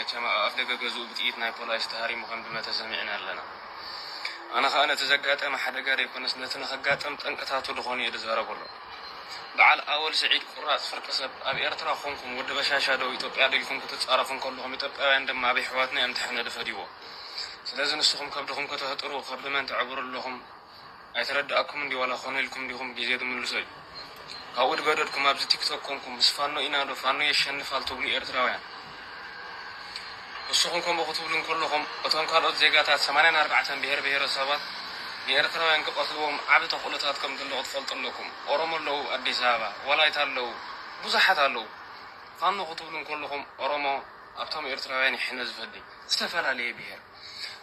መቸም ኣብ ኣፍደገ ገዝኡ ብጥይት ናይ ፖላይስ ተሃሪሙ ከም ድመተ ሰሚዕና ኣለና። ኣነ ከኣ ነቲ ዘጋጠመ ሓደጋ ደይኮነስ ነቲ ንኸጋጥም ጠንቅታቱ ድኾኑ እየ ድዛረበሉ። ብዓል ኣወል ስዒድ ቁራጽ ፍርቂ ሰብ ኣብ ኤርትራ ኮንኩም ወዲ በሻሻ ዶ ኢትዮጵያ ዶ ኢልኩም ክትጻረፉ እንከለኹም ኢትዮጵያውያን ድማ ኣብ የሕዋትና እዮም ተሐነድፈድዎ። ስለዚ ንስኹም ከብድኹም ከተህጥሩ ከብዲ መን ተዕብሩ ኣለኹም? ኣይተረደኣኩምን ድዩ ዋላ ኮነ ኢልኩም ዲኩም ብግዜ ትምልሶ እዩ ካብኡ ድገደድኩም ኣብዚ ቲክቶክ ኮንኩም ምስ ፋኖ ኢና ዶ ፋኖ የሸንፋል ትብሉ ኤርትራውያን ንስኩም ከምኡ ክትብሉ እንከለኩም እቶም ካልኦት ዜጋታት ሰማንያን ኣርባዕተን ብሄር ብሄረሰባት ንኤርትራውያን ክቀትልዎም ዓቢ ተክእሎታት ከምዘሎ ክትፈልጡ ኣለኩም ኦሮሞ ኣለው ኣዲስ ኣበባ ዋላይታ ኣለው ብዙሓት ኣለው ፋኖ ክትብሉ እንከለኩም ኦሮሞ ኣብቶም ኤርትራውያን ይሕነ ዝፈዲ ዝተፈላለየ ብሄር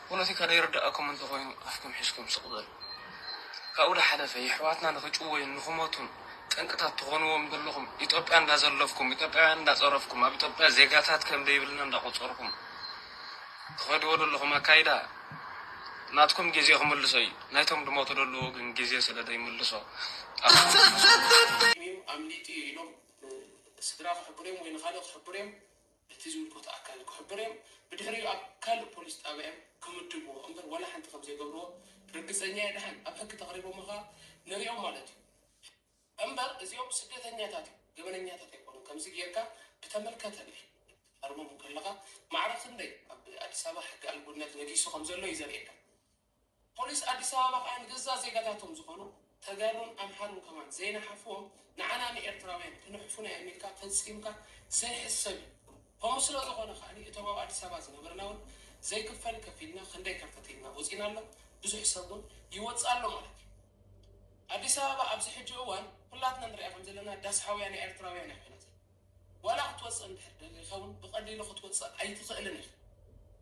ፖለቲካ ደይርደኣኩም እንተኾይኑ ኣፍኩም ሒዝኩም ስቕ በሉ። ካብኡ ደሓለፈ የሕዋትና ንኽጭወዩን ንኽሞቱን ጠንቅታት ትኾንዎም ደለኹም ኢትዮጵያ እንዳዘለፍኩም ኢትዮጵያውያን እንዳጸረፍኩም ኣብ ኢትዮጵያ ዜጋታት ከምደይብልና እንዳቆጸርኩም ትኸድዎ ደለኹም ኣካይዳ ናትኩም ጌዜ ክምልሶ እዩ ናይቶም ድሞቱ ደለዉ ግን ጌዜ ስለ ደይምልሶ ኣፍኩም ሒዝኩም ኣምሊጡ እዩ ኢሎም ንስድራ ክሕብሩ እዮም ወይ ንኻልእ ክሕብሩ እዮም። እቲ ዝምልከቶ ኣካል ክሕብሩ እዮም። ብድሕሪኡ ኣብ ካልእ ፖሊስ ጣብያ እዮም ክምድብዎ እምበር ዋላ ሓንቲ ከም ዘይገብርዎ ርግጸኛ እየ ደሓን ኣብ ሕጊ ተቅሪቦም ከኣ ንሪኦም ማለት እዩ። እምበር እዚኦም ስደተኛታት እዮም ገበነኛታት ኣይኮኑን ከምዚ ጌርካ ብተመልከተ ክትሃርሞም እንከለካ ማዕረ ክንደይ ኣብ ኣዲስ ኣበባ ሕጊ ኣልቦነት ነጊሱ ከም ዘሎ እዩ ዘርእየካ። ፖሊስ ኣዲስ ኣበባ ከኣ ንገዛእ ዜጋታቶም ዝኾኑ ተጋሩን ኣምሓሩን ከማን ዘይነሓፍዎም ንዓና ንኤርትራውያን ክንሕፉና ኢዮም ኢልካ ፈጺምካ ዘይሕሰብ ኢዩ። ከምኡ ስለ ዝኾነ ከኣ እቶም ኣብ ኣዲስ ኣበባ ዝነበርና ውን ዘይክፈል ከፊልና ክንደይ ከርተት ኢልና ወጺና ኣሎ ብዙሕ ሰብ ውን ይወጽእ ኣሎ ማለት ኢዩ። ኣዲስ ኣበባ ኣብዚ ሕጂ እዋን ኩላትና ንሪኣ ከም ዘለና ዳስ ሓውያ ናይ ኤርትራውያን ኢያ ኮይና ዘላ። ዋላ ክትወጽእ እንድሕር ደልዩ ይኸውን ብቐሊሉ ክትወጽእ ኣይትኽእልን ኢኻ።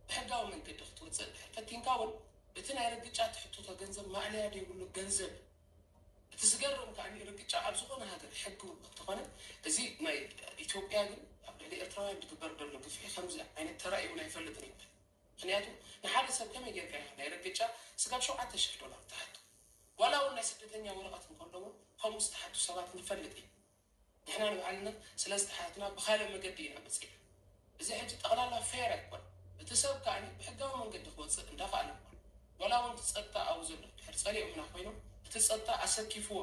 ብሕጋዊ መንገዲ ክትወጽእ እንድሕር ፈቲንካ ውን እቲ ናይ ርግጫ ትሕትቶ ገንዘብ ማእለያ ደይብሉ ገንዘብ እዩ። እቲ ዝገርም ከኣ ርግጫ ኣብ ዝኾነ ሃገር ሕጊ ውን እንተኾነ እዚ ናይ ኢትዮጵያ ግን ኣብ ልዕሊ ኤርትራውያን ዝግበር ዘሎ ግፍዒ ከምዚ ዓይነት ተራእዩ ውን ኣይፈልጥን እዩ። ምኽንያቱ ንሓደ ሰብ ከመይ ጌርካ ኢኻ ናይ ርግጫ ስጋብ ሸውዓተ ሽሕ ዶላር ትሓቶ። ዋላ ውን ናይ ስደተኛ ወረቐት እንከሎ ውን ከምኡ ዝተሓቱ ሰባት ንፈልጥ ኢና። ንሕና ንባዕልና ስለስተ ኣሓትና ብካልእ መገዲ ኢና መጺእና እዚ ሕጂ ጠቅላላ ፌር ኣይኮነን እቲ ሰብ ከኣ ብሕጋዊ መንገዲ ክወጽእ እንዳካኣለ እኳ ዋላ ውን እቲ ጸጥታ ኣብኡ ዘሎ እንድሕር ጸሊኦምና ኮይኖም እቲ ጸጥታ ኣሰኪፍዎ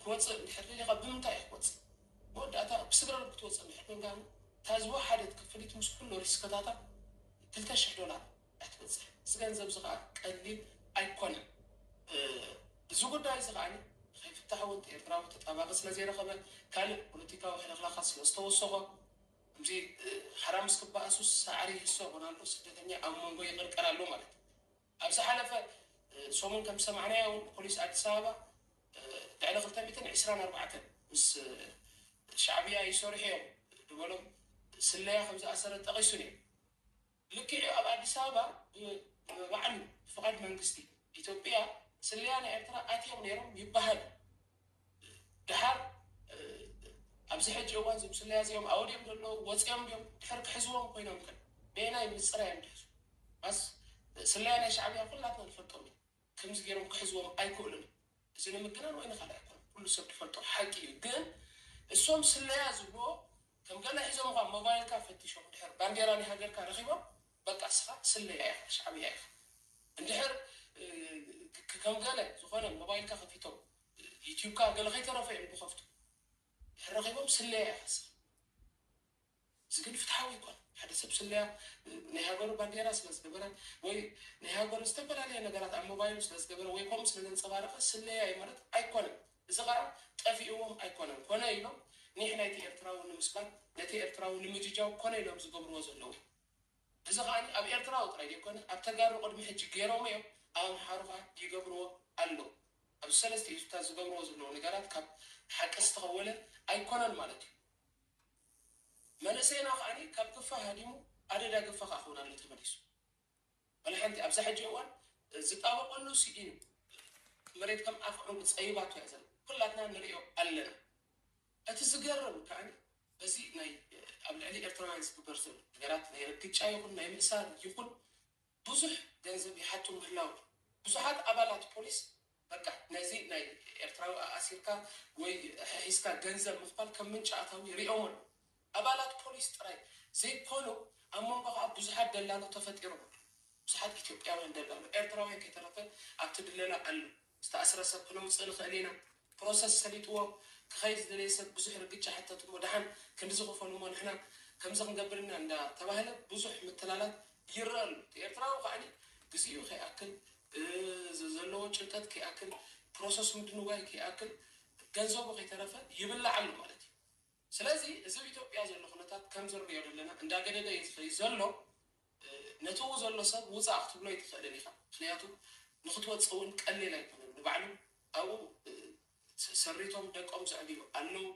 ክወጽእ እንድሕር ደሊካ ብምንታይ ኢዩ ክወጽእ መወዳእታ ብስግረዶብ ክትወጽእ እንድሕር ኮንካ ግን እታ ዝወሓደት ክፍሊት ምስ ኩሉ ሪስክታታ ክልተ ሽሕ ዶላር ኣይትበጽሕ እዚ ገንዘብ እዚ ከኣ ቀሊል ኣይኮነን እዚ ጉዳይ እዚ ከኣ ንከይፍታሕ እውን እቲ ኤርትራዊ ተጣባቂ ስለ ዘይረኸበ ካልእ ፖለቲካዊ ሕልኽላኻት ስለ ዝተወሰኾ ከምዚ ሓራምዝ ክበኣሱስ ሳዕሪ ይህሰ ኮን ኣሎ ስደተኛ ኣብ መንጎ ይቅርቀር ኣሎ ማለት እዩ ኣብ ዝሓለፈ ሰሙን ከም ዝሰማዕናዮ እውን ፖሊስ ኣዲስ ኣበባ ልዕሊ ክልተ ሚእትን ዕስራን ኣርባዕተን ምስ ሻዕብያ ይሰርሑ እዮም ዝበሎም ስለያ ከም ዝኣሰረ ጠቂሱ ነይሩ። ልክዕ'ዩ ኣብ ኣዲስ ኣበባ ብባዕሉ ብፍቓድ መንግስቲ ኢትዮጵያ ስለያ ናይ ኤርትራ ኣትዮም ነይሮም ይበሃል ደሓር ኣብዚ ሕጂ እዋን እዞም ስለያ እዚኦም ኣበይ ድዮም ዘለዉ ወጺኦም ድዮም ድሕር ክሕዝዎም ኮይኖም ከ በየናይ ምጽራይ እዮም ድሕር ማስ ስለያ ናይ ሻዕብያ ኩላትና ንፈልጦም ኢና። ከምዚ ጌሮም ክሕዝዎም ኣይክእሉን እዚ ንምግናን ወይ ንካልእ ኣይኮነን ኩሉ ሰብ ድፈልጦ ሓቂ እዩ ግን እሶም ስለያ ዝብልዎ ከም ገለ ሒዞምኻ ሞባይልካ ፈቲሾም ድሕር ባንዴራ ናይ ሃገርካ ረኺቦም በቃ እስኻ ስለያ ኢኻ ሻዕብያ ኢኻ እንድሕር ከም ገለ ዝኾነ ሞባይልካ ከፊቶም ዩቲብካ ገለ ከይተረፈ እዮም ድኸፍቱ ድሕር ረኺቦም ስለያ ኢኻ እስኻ። እዚ ግን ፍትሓዊ ኣይኮነን። ሓደ ሰብ ስለያ ናይ ሃገሩ ባንዴራ ስለ ዝገበረ ወይ ናይ ሃገሩ ዝተፈላለየ ነገራት ኣብ ሞባይሉ ስለ ዝገበረ ወይ ከምኡ ስለ ዘንጸባረቐ ስለያ እዩ ማለት ኣይኮነን። እዚ ከኣ ጠፊእዎም ኣይኮነን ኮነ ኢሎም ኒሕ ናይቲ ኤርትራዊ ንምስባር ነቲ ኤርትራዊ ንምጅጃው ኮነ ኢሎም ዝገብርዎ ዘለዉ እዩ። እዚ ከኣ ኣብ ኤርትራዊ ጥራይ ዘይኮነ ኣብ ተጋሩ ቅድሚ ሕጂ ገይሮሞ እዮም ኣብ ኣምሓሩ ከኣ ይገብርዎ ኣለዉ። ኣብዚ ሰለስቲኡ ህዝብታት ዝገብርዎ ዘለዉ ነገራት ካብ ሓቂ ዝተኸወለ ኣይኮነን ማለት እዩ። መንእሰይና ከኣ ካብ ግፋ ሃዲሙ ኣደዳ ግፋ ከኣ ክውን ኣሎ ተመሊሱ ዋላ ሓንቲ ኣብዛ ሕጂ እዋን ዝጣበቀሉ ሲኢኑ መሬት ከም ኣፍ ዑንቂ ጸይባቶ እያ ዘላ ኩላትና ንርእዮ ኣለና እቲ ዝገርም ከኣ በዚ ናይ ኣብ ልዕሊ ኤርትራውያን ዝግበር ዘሎ ነገራት ናይ ርግጫ ይኹን ናይ ምእሳር ይኹን ብዙሕ ገንዘብ ይሓቱ ምህላው ብዙሓት ኣባላት ፖሊስ በቃ ነዚ ናይ ኤርትራዊ ኣኣሲርካ ወይ ሐሒዝካ ገንዘብ ምኽፋል ከም ምንጪ ኣታዊ ይሪኦሞ ኣለዉ ኣባላት ፖሊስ ጥራይ ዘይኮኑ ኣብ መንጎ ከኣ ብዙሓት ደላሎ ተፈጢሮም ኣለዉ ብዙሓት ኢትዮጵያውያን ደላሎ ኤርትራውያን ከይተረፈ ኣብቲ ድለላ ኣለዉ ዝተኣስረ ሰብ ክነውጽእ ንኽእል ኢና ፕሮሰስ ሰሊጥዎ ክኸይድ ዝደለየ ሰብ ብዙሕ ርግጫ ሕተት እሞ ደሓን ክንድዚ ክፈሉ እሞ ንሕና ከምዚ ክንገብር ኢና እንዳ ተባህለ ብዙሕ ምትላላት ይረኣ ኣሎ እቲ ኤርትራዊ ከኣ ግዚኡ ከይኣክል ዘለዎ ጭንቀት ከይኣክል ፕሮሰስ ምድንጓይ ከይኣክል ገንዘቡ ከይተረፈ ይብላዕ ኣሎ ማለት እዩ። ስለዚ እዚ ኣብ ኢትዮጵያ ዘሎ ኩነታት ከምዚ ንሪኦ ዘለና እንዳገደደ እዩ ዝኸይድ ዘሎ። ነቲ ኣብኡ ዘሎ ሰብ ውፃእ ክትብሎ ኣይትኽእልን ኢኻ። ምኽንያቱ ንኽትወፅእ እውን ቀሊል ኣይኮነን። ንባዕሉ ኣብኡ ሰሪቶም ደቆም ዘዕብዩ ኣለው።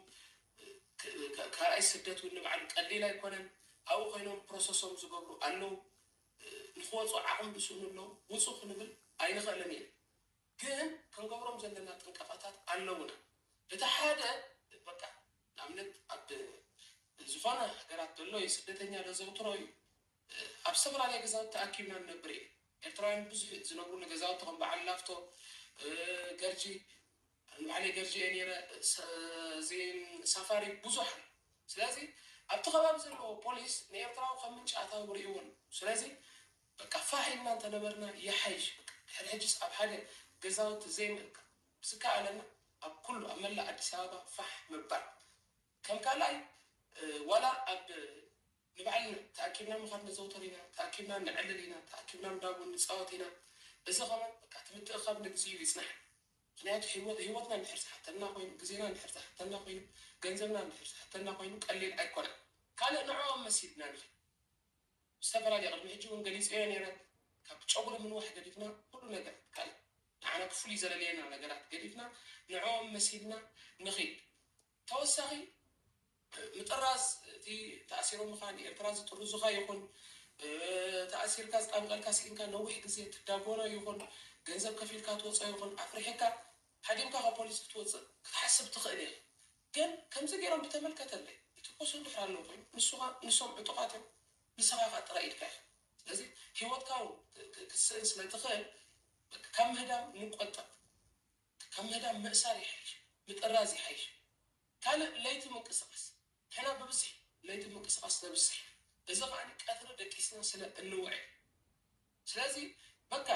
ካልኣይ ስደት እውን ንባዕሉ ቀሊል ኣይኮነን። ኣብኡ ኮይኖም ፕሮሰሶም ዝገብሩ ኣለው። ንኽወፁ ዓቕሚ ዝስእኑ ኣለው። ውፁ ክንብል ኣይንኽእልን ኢና። ግን ክንገብሮም ዘለና ጥንቃቐታት ኣለዉና። እቲ ሓደ በቃ ንኣብነት ኣብ ዝኾነ ሃገራት ዘሎ ስደተኛ ዘዘውትሮ እዩ። ኣብ ዝተፈላለየ ገዛውቲ ተኣኪብና ንነብር ኢና። ኤርትራውያን ብብዝሒ ዝነብሩሉ ገዛውቲ ከም በዓል ላፍቶ፣ ገርጂ፣ ኣነ ባዕለይ ገርጂ እየ ነይረ፣ እዚ ሳፋሪ ብዙሕ ኣሎ። ስለዚ ኣብቲ ከባቢ ዘለዎ ፖሊስ ንኤርትራዊ ከም ምንጪ ኣታዊ ርእይዎ ኣሎ። ስለዚ በቃ ፋሕ ኢልና እንተነበርና ይሓይሽ በቃ ድሕሪ ሕጂስ ኣብ ሓደ ገዛውቲ ዘይምእካብ ብዝከኣለና ኣብ ኩሉ ኣብ መላእ ኣዲስ ኣበባ ፋሕ ምባል ከም ካልኣይ ዋላ ኣብ ንባዕልና ተኣኪብና ምኻድ ነዘውትር ኢና ተኣኪብና ነዕልል ኢና ተኣኪብና እንዳቡን ንጻወት ኢና እዚ ከማን በቃ እቲ ምትእኻብ ንግዚኡ ይጽናሕ ምኽንያቱ ሂወትና እንድሕር ዝሓተና ኮይኑ ግዜና እንድሕር ዝሓተና ኮይኑ ገንዘብና እንድሕር ዝሓተና ኮይኑ ቀሊል ኣይኮነን ካልእ ንዕኦም መሲልና ንኺድ። ዝተፈላለየ ቅድሚ ሕጂ ውን ገሊጸዮ ኔረ ካብ ጨጉሪ ምንዋሕ ገዲፍና ኩሉ ነገር ይከኣል ንዓና ክፍሉይ ዘለልየና ነገራት ገዲፍና ንዕኦም መሲልና ንኺድ ተወሳኺ ምጥራዝ እቲ ተኣሲሮምኻ ንኤርትራ ዝጥርዙኻ ይኹን ተኣሲርካ ዝጣብቀልካ ሲኢንካ ነዊሕ ግዜ ትዳጎኖ ይኹን ገንዘብ ከፊልካ ትወጾ ይኹን ኣፍሪሕካ ሃዲምካ ካብ ፖሊስ ክትወጽእ ክትሓስብ ትኽእል ኢኻ ግን ከምዚ ጌሮም ብተመልከተለይ እቲ ፖሶ እንድሕር ኣለዉ ኮይኑ ንሱኻ ንሶም ዕጡቓት እዮም ንስኻ ከኣ ጥራይ ኢድካ ኢኻ ስለዚ ሂወትካ ውን ክትስእን ስለ ትኽእል በቃ ካብ ምህዳም ንቆጠብ ካብ ምህዳም ምእሳር ይሓይሽ ምጥራዝ ይሓይሽ ካልእ ለይቲ ምንቅስቃስ ንሕና ብብዝሒ ለይቲ ምንቅስቃስ ነብዝሕ ኢና እዚ ከኣ ቀትሪ ደቂስና ስለ እንውዕል ስለዚ በቃ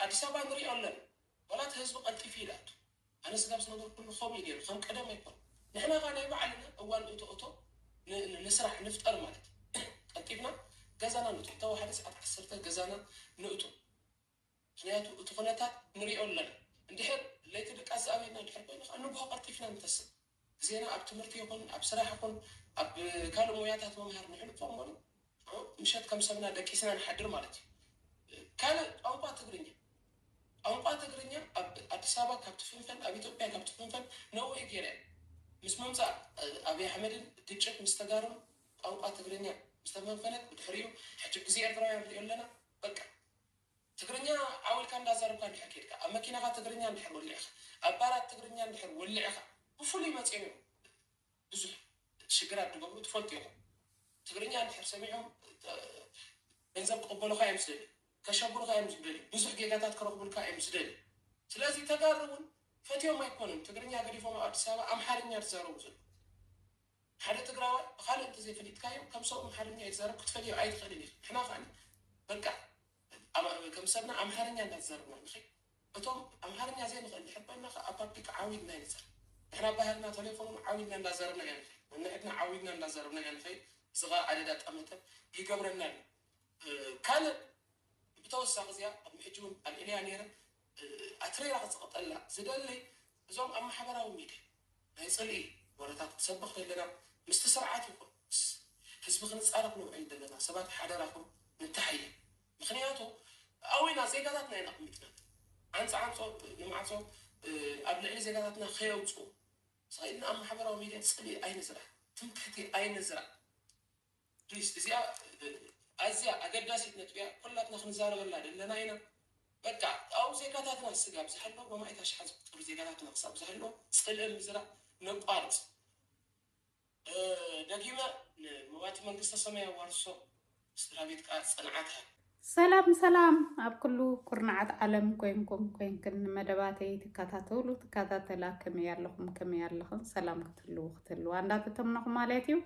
ኣዲስ ኣበባ ንሪኦ ኣለና ዋላ እቲ ህዝቢ ቀልጢፉ ይድኣቱ ኣነ ስጋብ ዝነበርኩሉ ከምኡ እዩ ነይሩ ከም ቀደም ኣይኮነን ንሕና ከኣ ናይ ባዕልና እዋን እቶ እቶ ንስራሕ ንፍጠር ማለት ቀልጢፍና ገዛና ንእቶ እታ ወሓደ ሰዓት ዓሰርተ ገዛና ንእቶ ምኽንያቱ እቲ ኩነታት ንሪኦ ኣለና እንድሕር ለይቲ ድቃስ ዝኣበየና እንድሕር ኮይኑ ከኣ ንግሆ ቀልጢፍና ንተስእ ዜና ኣብ ትምህርቲ ይኹን ኣብ ስራሕ ይኹን ኣብ ካልእ ሞያታት ምምሃር ንሕልፎ እምበሩ ምሸት ከም ሰብና ደቂስና ንሓድር ማለት እዩ። ካልእ ቋንቋ ትግርኛ ቋንቋ ትግርኛ ኣብ ኣዲስ ኣበባ ካብ ትፍንፈን ኣብ ኢትዮጵያ ካብ ትፍንፈን ነውሪ ገይራ እያ። ምስ ምምጻእ ኣብይ ኣሕመድን ግጭት ምስ ተጋሩን ቋንቋ ትግርኛ ምስ ተፈንፈነት ብድሕሪኡ ሕጂ ግዜ ኤርትራውያን ንሪኦ ኣለና በቃ። ትግርኛ ዓው ኢልካ እንዳዛረብካ እንድሕር ኬድካ፣ ኣብ መኪናኻ ትግርኛ እንድሕር ወሊዕኻ፣ ኣብ ባራት ትግርኛ እንድሕር ወሊዕኻ፣ ብፍሉይ መጺኦም እዮም ብዙሕ ሽግራት ድገብሩ ትፈልጡ ኢኹም። ትግርኛ እንድሕር ሰሚዖም ገንዘብ ክቕበሉኻ እዮም ዝደልዩ፣ ከሸብሩኻ እዮም ዝደልዩ፣ ብዙሕ ጌጋታት ክረኽቡልካ እዮም ዝደልዩ። ስለዚ ተጋሩ እውን ፈትዮም ኣይኮኑን ትግርኛ ገዲፎም ኣብ ኣዲስ ኣበባ ኣምሓርኛ ዝዛረቡ ዘለዉ። ሓደ ትግራዋይ ብካልእ እንተዘይፈሊጥካዮ ከም ሰቡ ኣምሓርኛ ይዛረብ ክትፈልዮ ኣይትክእልን ኢካ ንሕና ከኣ በቃ ኣብ ከም ሰብና ኣምሓርኛ እንዳተዛረብና ንከይድ እቶም ኣምሓርኛ ዘይንክእል እንድሕር ኮይና ከኣ ኣብ ፓብሊክ ዓው ኢልና ይንዛረብ ንሕና ኣብ ባህልና ተሌፎን ውን ዓው ኢልና እንዳዛረብና ኢና ንከይድ ነንሕድና ዓው ኢልና እንዳዛረብና ኢና ንከይድ እዚ ከኣ ኣደዳ ጠመተ ይገብረና ኣሎ ካልእ ብተወሳኪ እዚኣ ቅድሚ ሕጂ ውን ኣልዒለያ ነይረ ኣትሪራ ክትቅጠላ ዝደሊ እዞም ኣብ ማሕበራዊ ሚድያ ናይ ጽልኢ ወረታት ክንሰብኽ ደለና ምስቲ ስርዓት ይኹን ምስ ህዝቢ ክንጻረፍ ንውዕል ደለና ሰባት ሓደራኹም ንተሓየ ምኽንያቱ ኣዊና ዜጋታትና ኢና ኣቕሚጥና ዓንጽ ዓንጾ ንማዕጾ ኣብ ልዕሊ ዜጋታትና ከየውጽኡ ስቕ ኢልና ኣብ ማሕበራዊ ሚድያ ጽልኢ ኣይንዝራእ ትምክሕቲ ኣይንዝራእ። ፕሊስ እዚኣ ኣዝያ ኣገዳሲት ነጥቢ እያ ኩላትና ክንዛረበላ ደለና ኢና በቃ ኣው ዜጋታትና ስጋብ ዝሃለው በማኢት ኣሽሓት ዝቁጸሩ ዜጋታትና ክሳብ ዝሃለው ጽልኢ ምዝራእ ነቋርጽ ደጊመ ንመዋቲ መንግስተ ሰማይ የዋርሶ ንስድራቤት ከኣ ጽንዓት ሃብ። ሰላም ሰላም ኣብ ኩሉ ኩርናዓት ዓለም ኮይንኩም ኮይንክን ንመደባተይ ትከታተሉ ትከታተላ ከመይ ኣለኹም ከመይ ኣለኽን ሰላም ክትህልዉ ክትህልዋ እንዳተተምነኹ ማለት እዩ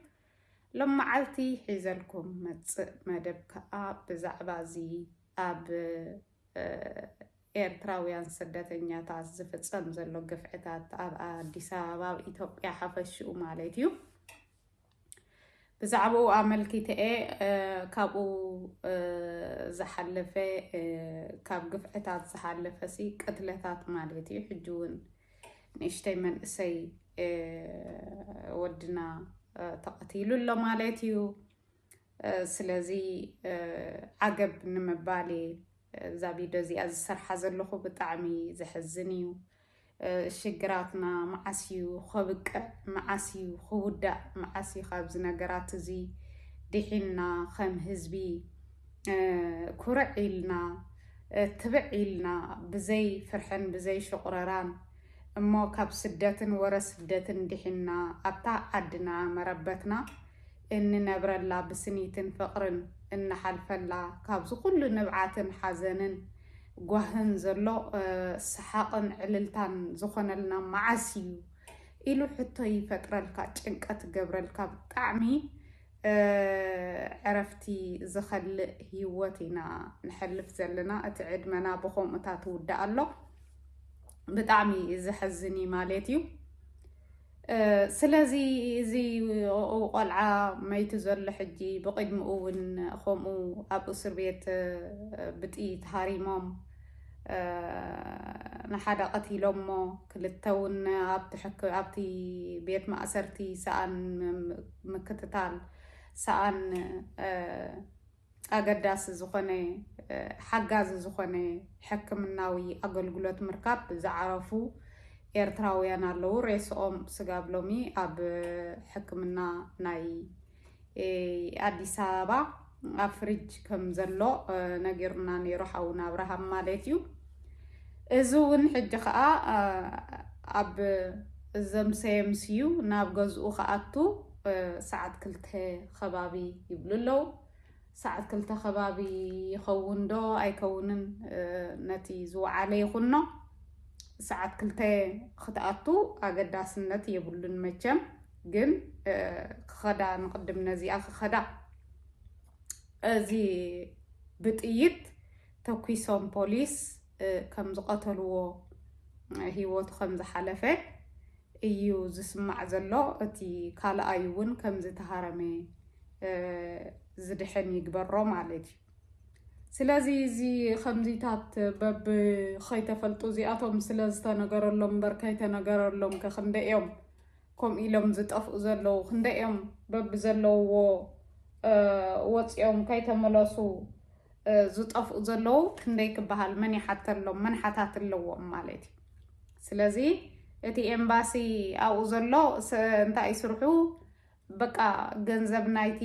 ሎም መዓልቲ ሒዘልኩም መፅእ መደብ ከዓ ብዛዕባ እዚ ኣብ ኤርትራውያን ስደተኛታት ዝፍፀም ዘሎ ግፍዕታት ኣብ ኣዲስ ኣበባ ኣብ ኢትዮጵያ ሓፈሽኡ ማለት እዩ ብዛዕባኡ ኣመልኪተ'የ ካብኡ ዝሓለፈ ካብ ግፍዕታት ዝሓለፈሲ ቅትለታት ማለት እዩ ሕጂ እውን ንእሽተይ መንእሰይ ወድና ተቐቲሉ ኣሎ ማለት እዩ ስለዚ ዓገብ ንምባል እየ እዛ ቪድዮ እዚኣ ዝሰርሓ ዘለኹ ብጣዕሚ ዘሕዝን እዩ ሽግራትና መዓስ እዩ ኸብቅዕ መዓስ እዩ ኽውዳእ መዓስ እዩ ኻብዚ ነገራት እዚ ዲሒንና ኸም ህዝቢ ኩርዕ ኢልና ትብዕ ኢልና ብዘይ ፍርሕን ብዘይ ሹቕረራን እሞ ካብ ስደትን ወረ ስደትን ዲሒንና ኣብታ ዓድና መረበትና እንነብረላ ብስኒትን ፍቕርን እንሓልፈላ ካብዚ ኩሉ ንብዓትን ሓዘንን ጓህን ዘሎ ሰሓቕን ዕልልታን ዝኾነልና መዓስ እዩ ኢሉ ሕቶ ይፈጥረልካ ጭንቀት ይገብረልካ ብጣዕሚ ዕረፍቲ ዝኸልእ ሂወት ኢና ንሐልፍ ዘለና እቲ ዕድመና ብኸምኡታት ውዳእ ኣሎ ብጣዕሚ ዘሐዝን እዩ ማለት እዩ። ስለዚ እዚ ቆልዓ መይቲ ዘሎ ሕጂ ብቅድሚኡ እውን ከምኡ ኣብ እስር ቤት ብጥይት ሃሪሞም ንሓደ ቀቲሎሞ ክልተ እውን ኣብቲ ቤት ማእሰርቲ ሰኣን ምክትታል ሰኣን ኣገዳሲ ዝኾነ ሓጋዚ ዝኾነ ሕክምናዊ ኣገልግሎት ምርካብ ዝዓረፉ ኤርትራውያን ኣለዉ። ሬስኦም ስጋብ ሎሚ ኣብ ሕክምና ናይ ኣዲስ ኣበባ ኣብ ፍሪጅ ከም ዘሎ ነጊሩና ነይሩ ሓውና ኣብርሃም ማለት እዩ። እዚ እውን ሕጂ ከዓ ኣብ ዘምሰየምስዩ ናብ ገዝኡ ክኣቱ ሰዓት ክልተ ኸባቢ ይብሉ ኣለዉ። ሰዓት ክልተ ኸባቢ ይኸውን ዶ ኣይከውንን ነቲ ዝወዓለ ይኹኖ። ሰዓት ክልተ ኽትኣቱ ኣገዳስነት የብሉን መቸም ግን ክኸዳ ንቕድም ነዚኣ ክኸዳ እዚ ብጥይት ተኲሶም ፖሊስ ከም ዝቐተልዎ ህይወቱ ከም ዝሓለፈ እዩ ዝስማዕ ዘሎ እቲ ካልኣይ እውን ከምዚ ተሃረመ ዝድሕን ይግበሮ ማለት እዩ ስለዚ እዚ ከምዚታት በብ ከይተፈልጡ እዚኣቶም ስለ ዝተነገረሎም እምበር ከይተነገረሎም ከ ክንደይ እዮም ከምኡ ኢሎም ዝጠፍኡ ዘለዉ ክንደይ እዮም በብ ዘለውዎ ወፂኦም ከይተመለሱ ዝጠፍኡ ዘለዉ ክንደይ ክበሃል መን ይሓተሎም መን ሓታት ኣለዎም ማለት እዩ ስለዚ እቲ ኤምባሲ ኣብኡ ዘሎ እንታይ እዩ ስርሑ በቃ ገንዘብ ናይቲ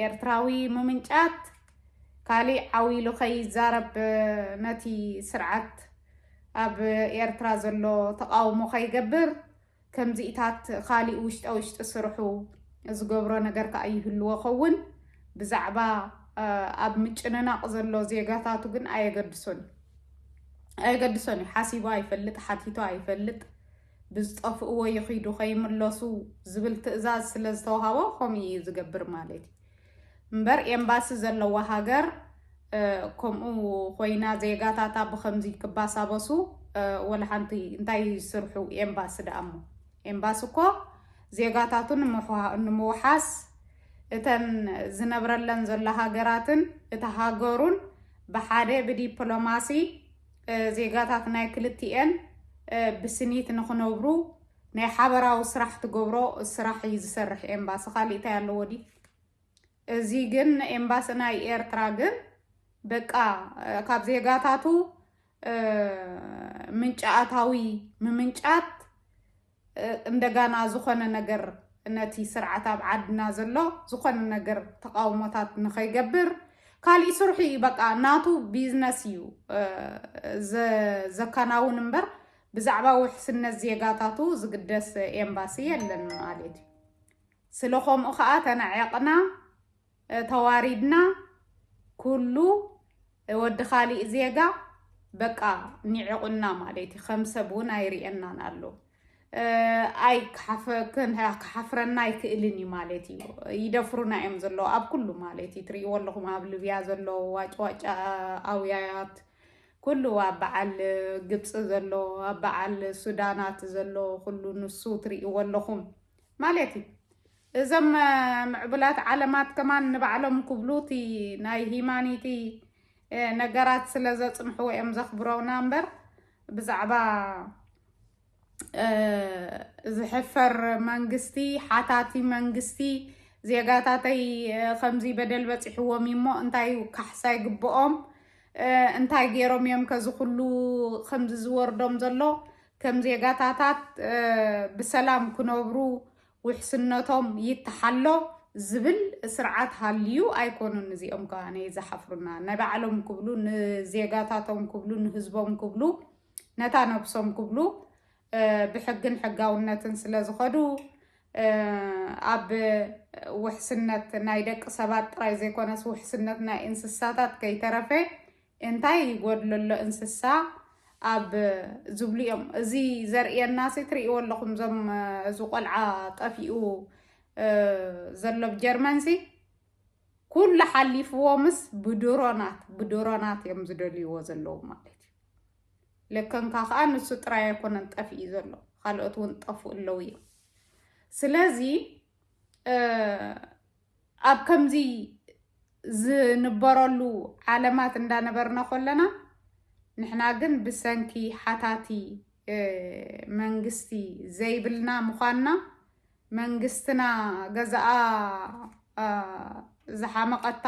ኤርትራዊ ምምንጫት ካሊእ ዓው ኢሉ ከይዛረብ ነቲ ስርዓት ኣብ ኤርትራ ዘሎ ተቃውሞ ከይገብር ከምዚኢታት ኻሊእ ውሽጣ ውሽጢ ስርሑ ዝገብሮ ነገር ከኣ ይህልዎ ኸውን ብዛዕባ ኣብ ምጭንናቕ ዘሎ ዜጋታቱ ግን ኣየገድሶን ኣየገድሶን እዩ ሓሲቡ ኣይፈልጥ ሓቲቶ ኣይፈልጥ ብዝጠፍእዎ ይኺዱ ከይምለሱ ዝብል ትእዛዝ ስለ ዝተዋሃቦ ከምኡ እዩ ዝገብር ማለት እዩ እምበር ኤምባሲ ዘለዋ ሃገር ከምኡ ኮይና ዜጋታታ ብከምዚ ክባሳበሱ ወላ ሓንቲ እንታይ ስርሑ ኤምባሲ ደኣሞ ኤምባሲ እኮ ዜጋታቱ ንምውሓስ እተን ዝነብረለን ዘሎ ሃገራትን እቲ ሃገሩን ብሓደ ብዲፕሎማሲ ዜጋታት ናይ ክልቲኤን ብስኒት ንክነብሩ ናይ ሓበራዊ ስራሕ ትገብሮ ስራሕ እዩ ዝሰርሕ ኤምባሲ ካሊእ እንታይ ኣለዎ ድዩ እዚ ግን ኤምባሲ ናይ ኤርትራ ግን በቃ ካብ ዜጋታቱ ምንጭ ኣታዊ ምምንጫት እንደጋና ዝኾነ ነገር ነቲ ስርዓት ኣብ ዓድና ዘሎ ዝኾነ ነገር ተቃውሞታት ንኸይገብር ካሊእ ስርሑ እዩ በቃ ናቱ ቢዝነስ እዩ ዘካናውን እምበር ብዛዕባ ውሕስነት ዜጋታቱ ዝግደስ ኤምባሲ የለን ማለት እዩ። ስለ ኸምኡ ኸኣ ተናዒቕና፣ ተዋሪድና፣ ኩሉ ወዲ ካሊእ ዜጋ በቃ ኒዒቑና ማለት እዩ። ከም ሰብ እውን ኣይርእየናን ኣሎ። ኣይ ክሓፍረና ኣይክእልን እዩ ማለት እዩ። ይደፍሩና እዮም ዘለዉ ኣብ ኩሉ ማለት እዩ። ትርእይዎ ኣለኹም ኣብ ልብያ ዘለዉ ዋጭዋጭ ኣውያያት ኩሉ ኣብ በዓል ግብፂ ዘሎ ኣብ በዓል ሱዳናት ዘሎ ኩሉ ንሱ ትሪእዎ ኣለኹም ማለት እዩ። እዘም ምዕቡላት ዓለማት ከማን ንባዕሎም ክብሉ እቲ ናይ ሂማኒቲ ነገራት ስለ ዘፅንሕዎ እዮም ዘኽብሮና እምበር ብዛዕባ ዝሕፈር መንግስቲ ሓታቲ መንግስቲ ዜጋታተይ ከምዚ በደል በፂሕዎም እዩ እሞ እንታይ ካሕሳ ይግብኦም እንታይ ገይሮም እዮም ከዚ ኩሉ ከምዚ ዝወርዶም ዘሎ ከም ዜጋታታት ብሰላም ክነብሩ ውሕስነቶም ይተሓሎ ዝብል ስርዓት ሃልዩ ኣይኮኑን እዚኦም ከ ዝሓፍሩና ናይ ባዕሎም ክብሉ ንዜጋታቶም ክብሉ ንህዝቦም ክብሉ ነታ ነብሶም ክብሉ ብሕግን ሕጋውነትን ስለ ዝኸዱ ኣብ ውሕስነት ናይ ደቂ ሰባት ጥራይ ዘይኮነስ ውሕስነት ናይ እንስሳታት ከይተረፈ እንታይ ይጎድሎ ኣሎ እንስሳ ኣብ ዝብሉ እዮም እዚ ዘርእየና ሲ ትርእይዎ ኣለኹም ዞም እዚ ቆልዓ ጠፊኡ ዘሎ ብ ጀርመን ሲ ኩሉ ሓሊፍዎምስ ብድሮናት ብድሮናት እዮም ዝደልይዎ ዘለዉ ማለት እዩ። ለከንካ ከዓ ንሱ ጥራይ ኣይኮነን ጠፍኢ ዘሎ ካልኦት እውን ጠፍኡ ኣለዉ እዮም። ስለዚ ኣብ ከምዚ ዝንበረሉ ዓለማት እንዳነበርና ኮለና ንሕና ግን ብሰንኪ ሓታቲ መንግስቲ ዘይብልና ምዃንና መንግስትና ገዛኣ ዝሓመቐታ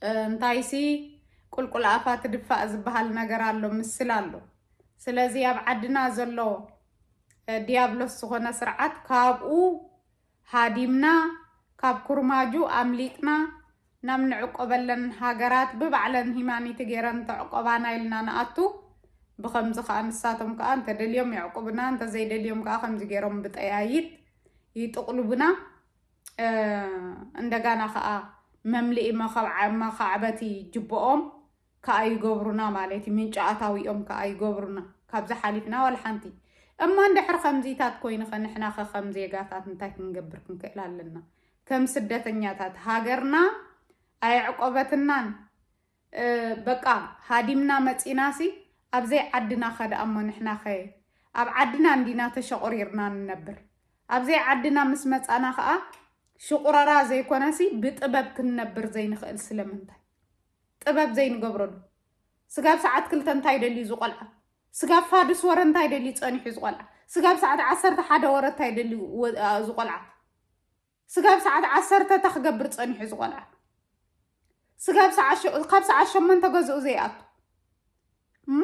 እንታይሲ ቁልቁል ኣፋ ትድፋእ ዝበሃል ነገር ኣሎ ምስል ኣሎ ስለዚ ኣብ ዓድና ዘሎ ዲያብሎስ ዝኾነ ስርዓት ካብኡ ሃዲምና ካብ ኩርማጁ ኣምሊጥና ናብ ንዕቆበለን ሃገራት ብባዕለን ሂማኒቲ ገይረን ተዕቆባና ኢልና ንኣቱ። ብኸምዚ ከኣ ንሳቶም ከኣ እንተደልዮም የዕቁብና እንተዘይደልዮም ከኣ ከምዚ ገይሮም ብጠያይት ይጥቕሉቡና። እንደጋና ከኣ መምልኢ መኻዕበቲ ጅቦኦም ካኣ ይገብሩና ማለት እዩ ምንጪ ኣታዊኦም ካኣ ይገብሩና ካብዚ ሓሊፍና ዋላ ሓንቲ እማ እንድሕር ከምዚታት ኮይንኸ ንሕናኸ ከም ዜጋታት እንታይ ክንገብር ክንክእል ኣለና ከም ስደተኛታት ሃገርና ኣየዕቆበትናን በቃ ሃዲምና መጺናሲ ኣብዘይ ዓድና ከደኣ እሞ ንሕናኸ ኣብ ዓድና እንዲና ተሸቑሪርና ንነብር ኣብዘይ ዓድና ምስ መጻና ከኣ ሽቑረራ ዘይኮነሲ ብጥበብ ክንነብር ዘይንኽእል ስለምንታይ ጥበብ ዘይንገብረሉ ስጋብ ሰዓት ክልተ እንታይ ደልዩ እዚ ቆልዓ ስጋብ ፋድስ ወረ እንታይ ደልዩ ጸኒሑ እዚ ቆልዓ ስጋብ ሰዓት ዓሰርተ ሓደ ወረ እንታይ ደልዩ እዚ ቆልዓ ስጋብ ሰዓት ዓሰርተ እታ ክገብር ጸኒሑ እዚ ቆልዓ ስጋብ ካብ ሰዓት ሸሞንተ ገዝኡ ዘይኣቱ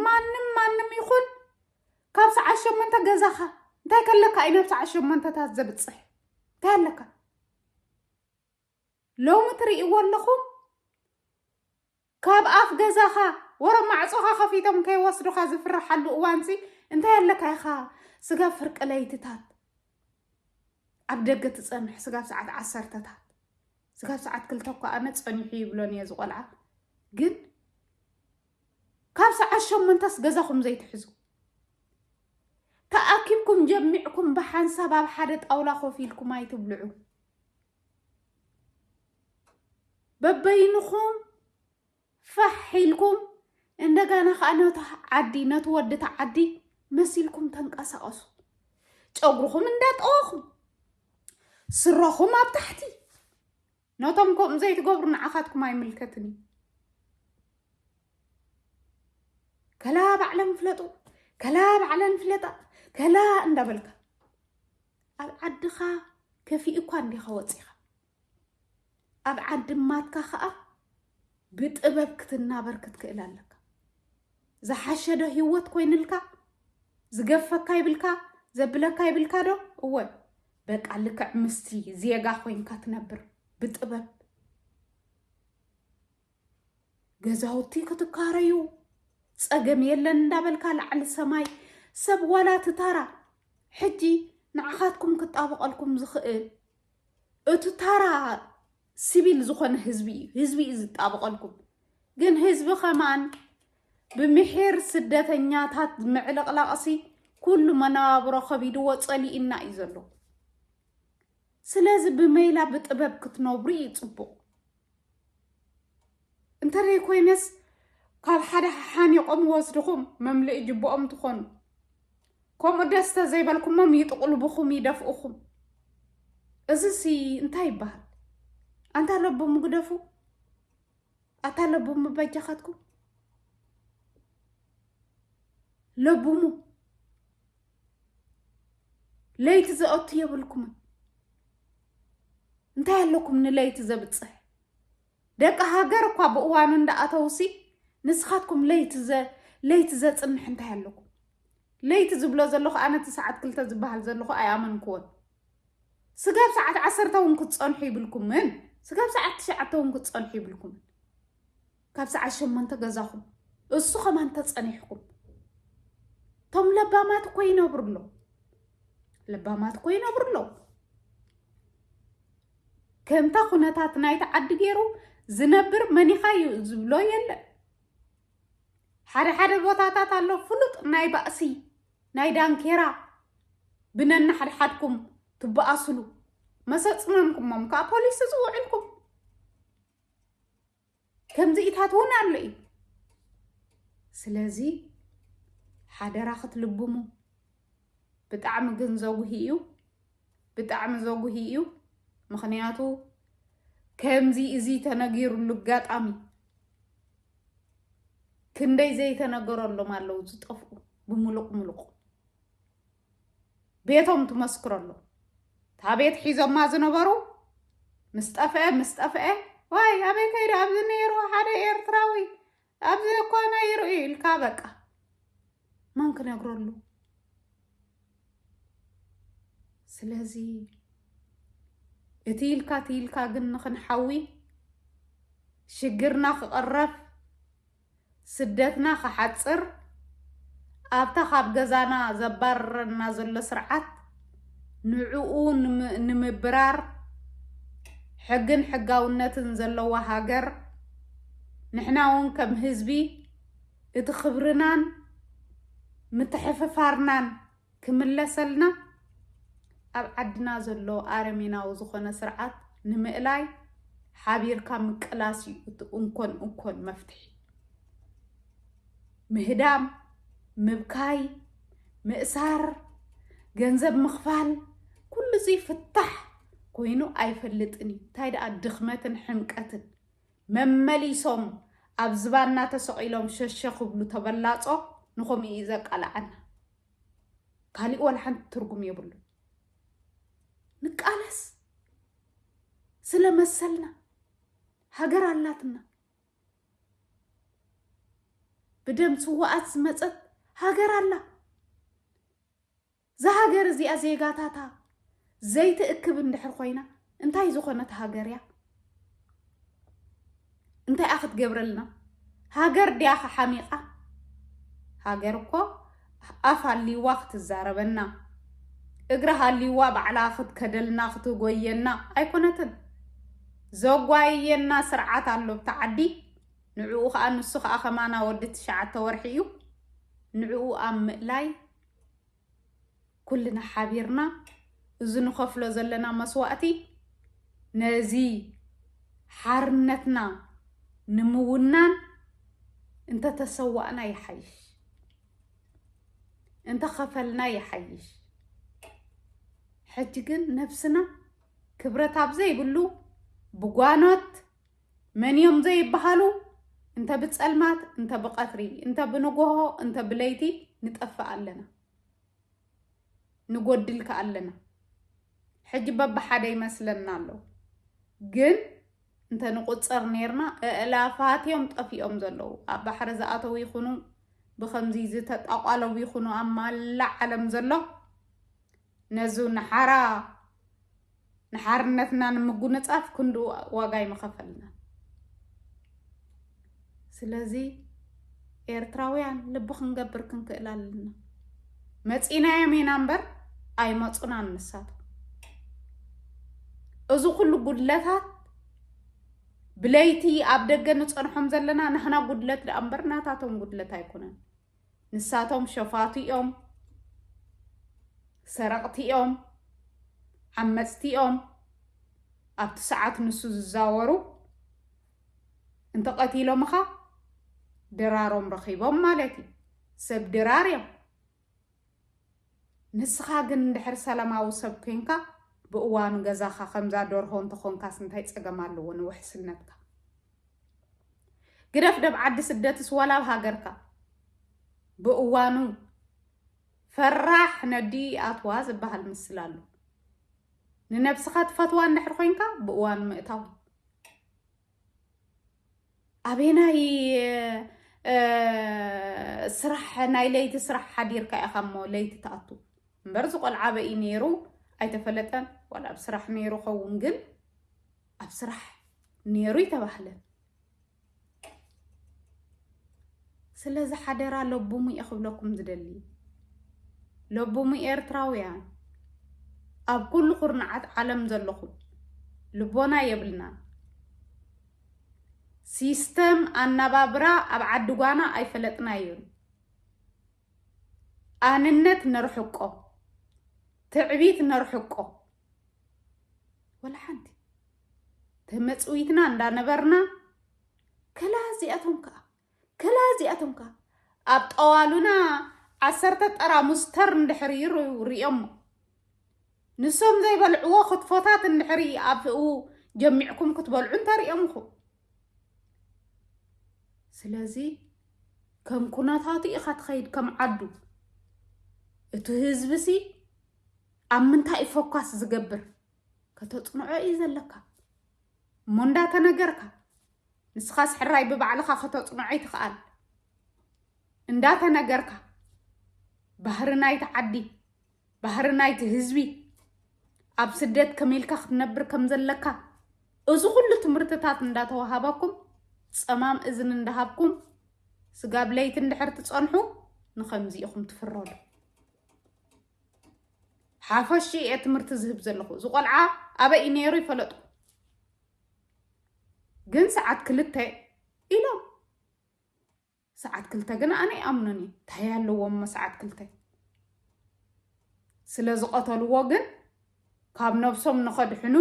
ማንም ማንም ይኹን ካብ ሰዓት ሸሞንተ ገዛኻ እንታይ ከለካ እዩ ናብ ሰዓት ሸሞንተታት ዘብፅሕ እንታይ ኣለካ ሎሚ ትርእይዎ ኣለኹም ካብ ኣፍ ገዛኻ ወረ ማዕጾኻ ከፊቶም ከይወስዱኻ ዝፍርሓሉ እዋንሲ እንታይ ኣለካ ኢኻ ስጋብ ፍርቂ ለይትታት ኣብ ደገ ትፀንሕ ስጋብ ሰዓት ዓሰርተታት ስጋብ ሰዓት ክልተ እኳ ኣነ ፀኒሑ ይብሎን እየ ዝቆልዓ ግን ካብ ሰዓት ሸሞንተስ ገዛኹም ዘይትሕዙ ተኣኪብኩም ጀሚዕኩም ብሓንሳብ ኣብ ሓደ ጣውላ ኮፍ ኢልኩም ኣይትብልዑ በበይንኹም ፋሕ ኢልኩም እንደገና ከዓ ነቲ ዓዲ ነቲ ወዲ እቲ ዓዲ መሲልኩም ተንቀሳቐሱ። ጨጉርኹም እንዳጠወኹም ስረኹም ኣብ ታሕቲ ነቶም ከምኡ ዘይትገብሩ ንዓኻትኩም ኣይምልከትን እዩ። ከላ ባዕለን ፍለጡ ከላ ባዕለን ፍለጣ ከላ እንዳበልካ ኣብ ዓድኻ ከፊኡኳ እንዲኻ ወፂኻ ኣብ ዓዲ ማትካ ከዓ ብጥበብ ክትናበር ክትክእል ኣለካ ዝሓሸዶ ሂወት ኮይንልካ ዝገፈካ ይብልካ ዘብለካ ይብልካ ዶ እወ በቃ ልክዕ ምስቲ ዜጋ ኮይንካ ትነብር ብጥበብ ገዛውቲ ክትካረዩ ፀገም የለን እንዳበልካ ላዕሊ ሰማይ ሰብ ዋላ ትታራ ሕጂ ንዓኻትኩም ክጣበቐልኩም ዝኽእል እቲ ታራ ሲቪል ዝኾነ ህዝቢ እዩ ህዝቢ እዩ ዝጣበቐልኩም ግን ህዝቢ ከማን ብምሒር ስደተኛታት ምዕልቕላቕሲ ኩሉ መነባብሮ ከቢድዎ ፀሊእና እዩ ዘሎ ስለዚ ብመይላ ብጥበብ ክትነብሩ እዩ ፅቡቕ እንተደይ ኮይነስ ካብ ሓደ ሓኒቆም ወስድኹም መምልኢ ጅብኦም ትኾኑ ከምኡ ደስ ተዘይበልኩሞም ይጥቕልብኹም ይደፍኡኹም እዚ ሲ እንታይ ይበሃል ኣንታ ለቡ ምግደፉ ኣታ ለቡ ምበጃኻትኩም ለቡሙ ለይቲ ዘኦቱ የብልኩምን እንታይ ኣለኩም ንለይቲ ዘብፅሕ ደቂ ሃገር እኳ ብእዋኑ እንዳኣተውሲ ንስኻትኩም ለይቲ ለይቲ ዘፅንሕ እንታይ ኣለኩም ለይቲ ዝብሎ ዘለኹ ኣነ እቲ ሰዓት ክልተ ዝበሃል ዘለኹ ኣይኣመንክዎን ስጋብ ሰዓት ዓሰርተ እውን ክትፀንሑ ይብልኩምን ስጋብ ሰዓት ትሽዓተ እውን ክትፀንሑ ይብልኩምን ካብ ሰዓት ሸሞንተ ገዛኹም እሱ ከማን ተጸኒሕኩም እቶም ለባማት እኮ ይነብሩ ኣለዉ ለባማት እኮ ይነብሩ ኣለዉ ከምታ ኩነታት ናይቲ ዓዲ ገይሩ ዝነብር መኒኻ እዩ ዝብሎ የለን ሓደ ሓደ ቦታታት ኣሎ ፍሉጥ ናይ ባእሲ ናይ ዳንኬራ ብነናሓድሓድኩም ትበኣስሉ መሰፅመምኩሞም ከዓ ፖሊስ ዝውዕልኩም ከምዚኢታት እውን ኣሎ እዩ ስለዚ ሓደራ ክትልብሙ ብጣዕሚ ግን ዘጉሂ እዩ ብጣዕሚ ዘጉሂ እዩ ምክንያቱ ከምዚ እዚ ተነጊሩሉ ኣጋጣሚ ክንደይ ዘይተነገረሎም ኣለዉ ዝጠፍኡ ብምሉቕ ምሉቕ ቤቶም ትመስክረሉ እታ ቤት ሒዞማ ዝነበሩ ምስ ጠፍአ ምስ ጠፍአ ዋይ ኣበይ ከይደ ኣብዚ ነይሩ ሓደ ኤርትራዊ ኣብዚ እኮ ነይሩ እዩ ኢልካ በቃ መን ክነግረሉ ስለዚ እቲ ኢልካ እቲ ኢልካ ግን ንክንሓዊ ሽግርና ክቕረፍ ስደትና ክሓጽር ኣብታ ካብ ገዛና ዘባርረና ዘሎ ስርዓት ንዕኡ ንምብራር ሕግን ሕጋውነትን ዘለዋ ሃገር ንሕና እውን ከም ህዝቢ እቲ ክብርናን ምትሕፍፋርናን ክምለሰልና ኣብ ዓድና ዘሎ ኣረሜናዊ ዝኾነ ስርዓት ንምእላይ ሓቢርካ ምቅላስ እዩ እቲ እንኮን እንኮን መፍትሒ። ምህዳም፣ ምብካይ፣ ምእሳር፣ ገንዘብ ምኽፋል ኩሉ እዚ ፍታሕ ኮይኑ ኣይፈልጥን እዩ። እንታይ ደኣ ድኽመትን ሕምቀትን መመሊሶም ኣብ ዝባንና ተሰቂሎም ሸሸ ክብሉ ተበላጾ ንከምኡ ኢዩ ዘቃልዓና ካሊእ ዋላ ሓንቲ ትርጉም የብሉን ንቃለስ ስለ መሰልና ሃገር ኣላትና ብደም ስዋኣት ዝመጸት ሃገር ኣላ እዛ ሃገር እዚኣ ዜጋታታ ዘይትእክብ እንድሕር ኮይና እንታይ ዝኾነት ሃገር እያ? እንታይ እያ ክትገብረልና? ሃገር ድያ ሓሚቓ? ሃገር እኮ ኣፍ ኣልዋ ክትዛረበና እግሪ ሃልዋ ባዕላ ክትከደልና ክትጎየና ኣይኮነትን። ዘጓየየና ስርዓት ኣሎ ኣብቲ ዓዲ ንዕኡ ከዓ ንሱ ከዓ ከማና ወዲ ትሽዓተ ወርሒ እዩ ንዕኡ ኣብ ምእላይ ኩልና ሓቢርና እዚ ንኸፍሎ ዘለና መስዋእቲ ነዚ ሓርነትና ንምውናን እንተተሰዋእና ይሓይሽ፣ እንተኸፈልና ይሓይሽ። ሕጂ ግን ነብስና ክብረት ኣብ ዘይብሉ ብጓኖት መን እዮም ዘይበሃሉ እንተ ብጸልማት እንተ ብቐትሪ እንተ ብንጎሆ እንተ ብለይቲ ንጠፍእ ኣለና ንጎድል ከ ኣለና ሕጂ በብሓደ ይመስለና ኣሎ ግን እንተ ንቁፅር ነርና እእላፋት እዮም ጠፊኦም ዘለዉ ኣብ ባሕሪ ዝኣተው ይኹኑ ብከምዚ ዝተጣቋለው ይኹኑ ኣብ ማላ ዓለም ዘሎ ነዙ ንሓራ ንሓርነትና ንምጉንጻፍ ክንዱ ዋጋ ይመኸፈልና ስለዚ ኤርትራውያን ልቢ ክንገብር ክንክእል ኣለና መፂናዮም ኢና እምበር ኣይመፁናን ንሳቱ እዚ ኩሉ ጉድለታት ብለይቲ ኣብ ደገ ንፀንሖም ዘለና ንሕና ጉድለት ደኣ እምበር ናታቶም ጉድለት ኣይኮነን ንሳቶም ሸፋቱ እዮም ሰረቕቲ እዮም ዓመፅቲ እዮም ኣብቲ ሰዓት ንሱ ዝዛወሩ እንተቐቲሎምኻ ድራሮም ረኺቦም ማለት እዩ ሰብ ድራር እዮም ንስኻ ግን እንድሕር ሰላማዊ ሰብ ኮይንካ ብእዋኑ ገዛኻ ከምዛ ደርሆ እንተኾንካስ እንታይ ጸገም ኣለዎ ንውሕስነትካ ግደፍ ደብ ዓዲ ስደትስ ወላ ኣብ ሃገርካ ብእዋኑ ፈራሕ ነዲ ኣትዋ ዝበሃል ምስል ኣሎ ንነብስኻ ትፈትዋ እንድሕር ኮይንካ ብእዋኑ ምእታው ኣበየናይ ስራሕ ናይ ለይቲ ስራሕ ሓዲርካ ኢኻ እሞ ለይቲ ትኣቱ እምበር እዚ ቆልዓ በይ ነይሩ ኣይተፈለጠን ዋላ ኣብ ስራሕ ነይሩ ኸውን ግን ኣብ ስራሕ ነይሩ ይተባህለ ስለዚ ሓደራ ለብሙ እየ ክብለኩም ዝደሊ ለብሙ ኤርትራውያን ኣብ ኩሉ ኩርናዓት ዓለም ዘለኹም ልቦና የብልናን ሲስተም ኣናባብራ ኣብ ዓዲ ጓና ኣይፈለጥናዮን። ኣንነት ነርሕቆ፣ ትዕቢት ነርሕቆ፣ ወላ ሓንቲ ተመፅዊትና እንዳነበርና ከላ እዚኣቶም ከዓ ከላ እዚኣቶም ከዓ ኣብ ጠዋሉና ዓሰርተ ጠራሙስ ተር እንድሕር ይሩ ሪኦሞ ንሶም ዘይበልዕዎ ክትፎታት እንድሕሪ ኣብኡ ጀሚዕኩም ክትበልዑ እንተሪኦም ኢኹም ስለዚ ከም ኩነታቱ ኢኻ ትኸይድ ከም ዓዱ እቲ ህዝቢ ሲ ኣብ ምንታይ እዩ ፎካስ ዝገብር ከተፅንዖ እዩ ዘለካ እሞ እንዳተነገርካ ንስኻስ ሕራይ ብባዕልኻ ከተፅንዖ ይትኽኣል እንዳተነገርካ ባህሪ ናይቲ ዓዲ ባህሪ ናይቲ ህዝቢ ኣብ ስደት ከመኢልካ ክትነብር ከም ዘለካ እዚ ኩሉ ትምህርትታት እንዳተዋሃበኩም ፀማም እዝን እንዳሃብኩም ስጋብ ለይቲ እንድሕር ትፀንሑ ንከምዚ ኢኹም ትፍረዱ ሓፈሽ እየ ትምህርቲ ዝህብ ዘለኹ እዚ ቆልዓ ኣበይ እዩ ነይሩ ይፈለጥኩ ግን ሰዓት ክልተ ኢሎም ሰዓት ክልተ ግን ኣነ ይኣምኑን እዩ እንታይ ኣለዎም ሰዓት ክልተ ስለ ዝቐተልዎ ግን ካብ ነብሶም ንኸድሕኑ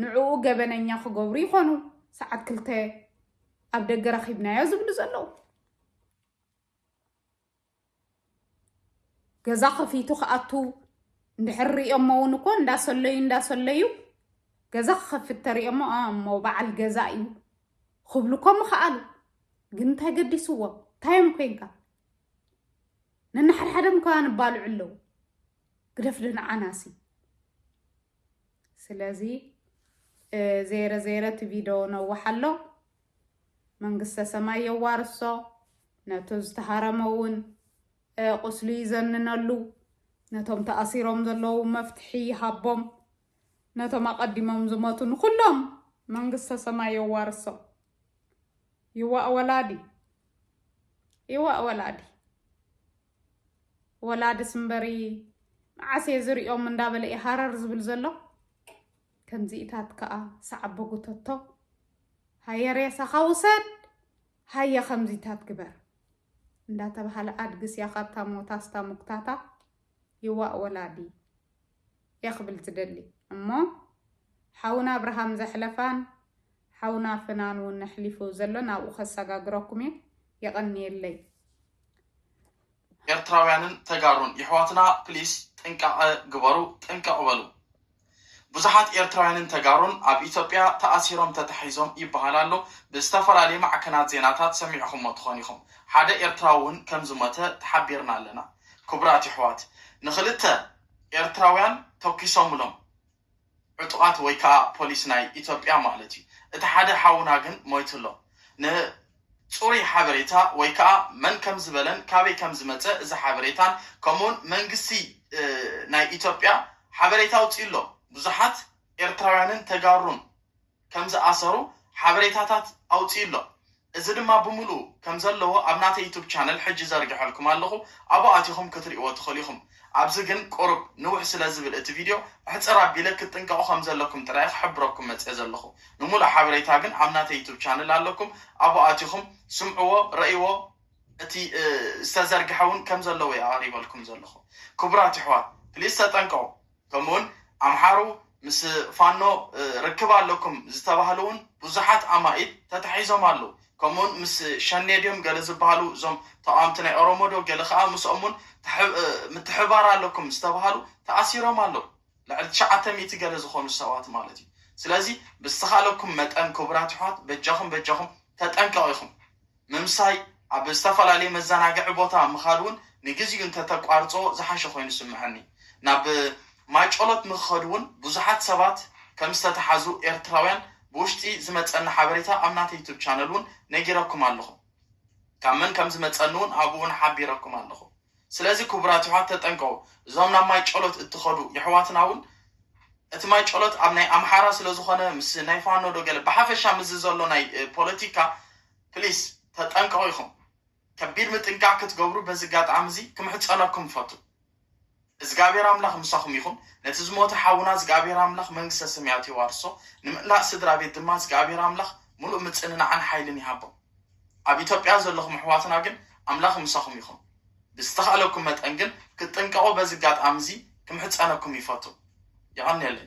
ንዕኡ ገበነኛ ክገብሩ ይኾኑ ሰዓት ክልተ ኣብ ደገ ረኺብናዮ ዝብሉ ዘለዉ ገዛ ከፊቱ ክኣቱ እንድሕር ሪኦሞ እውን እኮ እንዳሰለዩ እንዳሰለዩ ገዛ ክኸፍት ተሪኦሞ እሞ በዓል ገዛ እዩ ክብሉ እኮ ምኸኣሉ ግን እንታይ ገዲስዎ እንታዮም ኮንካ ነናሓድሓደም ከ ንባልዑ ኣለዉ ግደፍ ደንዓናሲ ስለዚ ዘይረ ዘይረ እቲ ቪድዮ ነዋሓሎ መንግስተ ሰማይ የዋርሶ ነቱ ዝተሃረመ ውን ቁስሉ ይዘንነሉ ነቶም ተኣሲሮም ዘለዉ መፍትሒ ይሃቦም ነቶም ኣቐዲሞም ዝመቱ ንኹሎም መንግስተ ሰማይ የዋርሶ ይዋእ ወላዲ ይዋእ ወላዲ ወላዲ ስምበሪ መዓስ እየ ዝሪኦም እንዳበለ እዩ ሃረር ዝብል ዘሎ ከምዚኢታት ከኣ ሳዓቦ ጉተቶ ሃየ ሬሳኻ ውሰድ ሃየ ከምዚታት ግበር እንዳተባሃለ ኣድግስ እያ ካብታ ሞታስ እታ ሙክታታ ይዋእ ወላዲ እየ ክብል ዝደሊ እሞ ሓውና ኣብርሃም ዘሕለፋን ሓውና ፍናን እውን ኣሕሊፉ ዘሎ ናብኡ ከሰጋግረኩም እየ የቐንየለይ ኤርትራውያንን ተጋሩን የሕዋትና ፕሊስ ጥንቃቀ ግበሩ ጥንቅቅ በሉ ብዙሓት ኤርትራውያንን ተጋሩን ኣብ ኢትዮጵያ ተኣሲሮም ተታሒዞም ይበሃል ኣሎ ብዝተፈላለየ ማዕከናት ዜናታት ሰሚዕኹሞ ትኾን ኢኹም ሓደ ኤርትራዊ ውን ከም ዝሞተ ተሓቢርና ኣለና ክቡራት የሕዋት ንኽልተ ኤርትራውያን ተኪሶምሎም ዕጡቓት ወይ ከኣ ፖሊስ ናይ ኢትዮጵያ ማለት እዩ። እቲ ሓደ ሓውና ግን ሞይቱ ኣሎ። ን ጽሩይ ሓበሬታ ወይ ከኣ መን ከም ዝበለን ካበይ ከም ዝመጸ እዚ ሓበሬታን ከምኡውን መንግስቲ ናይ ኢትዮጵያ ሓበሬታ ኣውጺኡ ኣሎ። ብዙሓት ኤርትራውያንን ተጋሩን ከም ዝኣሰሩ ሓበሬታታት ኣውጺኡ ኣሎ። እዚ ድማ ብምልኡ ከም ዘለዎ ኣብ ናተይ ዩቱብ ቻነል ሕጂ ዘርገሐልኩም ኣለኹ ኣብኡ ኣቲኹም ክትርእይዎ ትኽእሉ ኢኹም። ኣብዚ ግን ቁሩብ ንውሕ ስለ ዝብል እቲ ቪድዮ ኣሕጽር ኣቢለ ክትጥንቀቑ ከም ዘለኩም ጥራይ እየ ክሕብረኩም መጺኤ ዘለኹ። ንምሉእ ሓበሬታ ግን ኣብ ናተይ ዩቱብ ቻነል ኣለኩም ኣብኡ ኣቲኹም ስምዕዎ ረእይዎ። እቲ ዝተዘርገሐ ውን ከም ዘለዎ እየ ኣቕሪበልኩም ዘለኹ። ክቡራት የሕዋት ፕሊስ ተጠንቀቑ። ከምኡ ውን ኣምሓሩ ምስ ፋኖ ርክብ ኣለኩም ዝተባህሉ ውን ብዙሓት ኣማኢት ተታሒዞም ኣለው። ከምኡ ውን ምስ ሸኔ ድዮም ገለ ዝበሃሉ እዞም ተቓወምቲ ናይ ኦሮሞ ዶ ገለ ከኣ ምስኦም ውን ምትሕብባር ኣለኩም ዝተባህሉ ተኣሲሮም ኣለው። ልዕሊ ትሽዓተ ሚእቲ ገለ ዝኾኑ ሰባት ማለት እዩ። ስለዚ ብዝተኻለኩም መጠን ክቡራት የሕዋት በጃኹም በጃኹም ተጠንቀቑ ኢኹም። ምምሳይ፣ ኣብ ዝተፈላለየ መዘናግዒ ቦታ ምኻድ እውን ንግዚኡ እንተተቋርጾ ዝሓሸ ኮይኑ ዝስምዐኒ። ናብ ማይጨሎት ንክኸዱ እውን ብዙሓት ሰባት ከም ዝተተሓዙ ኤርትራውያን ብውሽጢ ዝመጸኒ ሓበሬታ ኣብ ናተይ ዩቱብ ቻነል እውን ነጊረኩም ኣለኹ። ካብ መን ከም ዝመጸኒ እውን ኣብኡ እውን ሓቢረኩም ኣለኹ። ስለዚ ኩቡራት የሕዋት ተጠንቀቁ እዞም ናብ ማይ ጨሎት እትከዱ የሕዋትና እውን እቲ ማይ ጨሎት ኣብ ናይ ኣምሓራ ስለ ዝኮነ ምስ ናይ ፋኖ ዶ ገለ ብሓፈሻ ምስዚ ዘሎ ናይ ፖለቲካ ፕሊስ ተጠንቀቁ ኢኩም ከቢድ ምጥንቃቅ ክትገብሩ በዚ ጋጣሚ እዚ ክምሕጸነኩም እፈቱ እዝጋብሄር ኣምላክ ምሳኩም ይኩን ነቲ ዝሞተ ሓውና እዝጋብሄር ኣምላክ መንግስተ ሰማያት የዋርሶ ንምእላእ ስድራ ቤት ድማ እዝጋብሄር ኣምላክ ሙሉእ ምጽንናዕን ሓይልን ይሃቦም። ኣብ ኢትዮጵያ ዘለኹም ኣሕዋትና ግን ኣምላኽ ምሳኹም ይኹን። ብዝተኻእለኩም መጠን ግን ክትጥንቀቑ በዚ ኣጋጣሚ እዚ ክምሕጸነኩም ይፈቱ። የቐንየለይ።